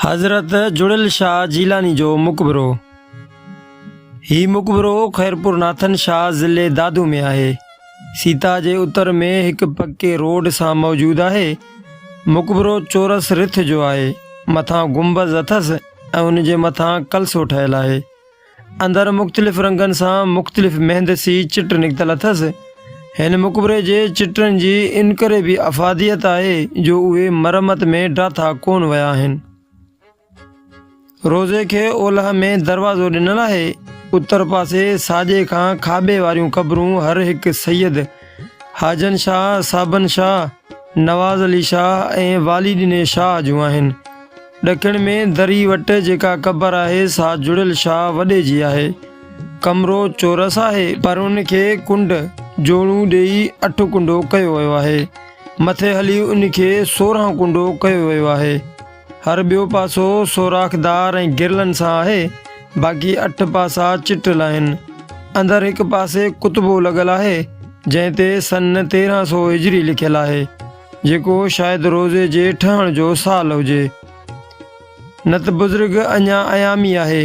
حضرت جڙيل شاهه جيلاني جو مقبرو هي مقبرو خيرپور ناٿن شاهه ضلعي دادو ۾ آهي سيتا جي اتر ۾ هڪ پڪي روڊ سان موجود آهي مقبرو چورس رٿ جو آهي مٿان گنبز اٿس ۽ ان جي مٿان ڪلسو ٺهيل آهي اندر مختلف رنگن سان مختلف مهندسي چٽ نڪتل اٿس. هن مقبري جي چٽن جي انڪري به افاديت آهي جو اهي مرمت ۾ ڊاٿا ڪون ويا آهن. روضي کي اولهه ۾ دروازو ڏنل آهي. اتر پاسي ساڄي کان کاٻي واريون قبرون هر هڪ سيد حاجن شاهه، صابن شاهه، نواز علي شاهه ۽ والي ڏني شاهه جون آهن. ڏکڻ ۾ دري وٽ جيڪا قبر آهي سا جڙيل شاهه وڏي جي آهي. ڪمرو چورس آهي پر ان کي ڪنڊ، جوڙون، ڏيئي اٺ ڪنڊو ڪيو ويو آهي. مٿي هلي ان کي سورهن ڪنڊو ڪيو ويو آهي. هر ٻيو پاسو سوراخدار ۽ گرلن سان آهي، باقي اٺ پاسا چٽل آهن. اندر هڪ پاسي ڪتبو لڳل آهي، جنهن تي سن تيرهن سؤ هجري لکيل آهي، جيڪو شايد روضي جي ٺهڻ جو سال هجي. نت بزرگ اڃا ايامي آهي.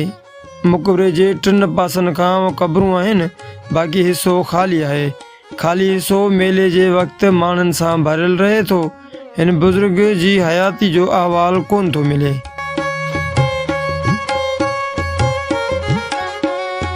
مقبري جي ٽن پاسن کان قبرون آهن، باقي حصو خالي آهي. خالي حصو ميلي جي وقت ماڻهن سان ڀريل رهي ٿو هن بزرگ جي حياتي جو احوال ڪونه ٿو ملي.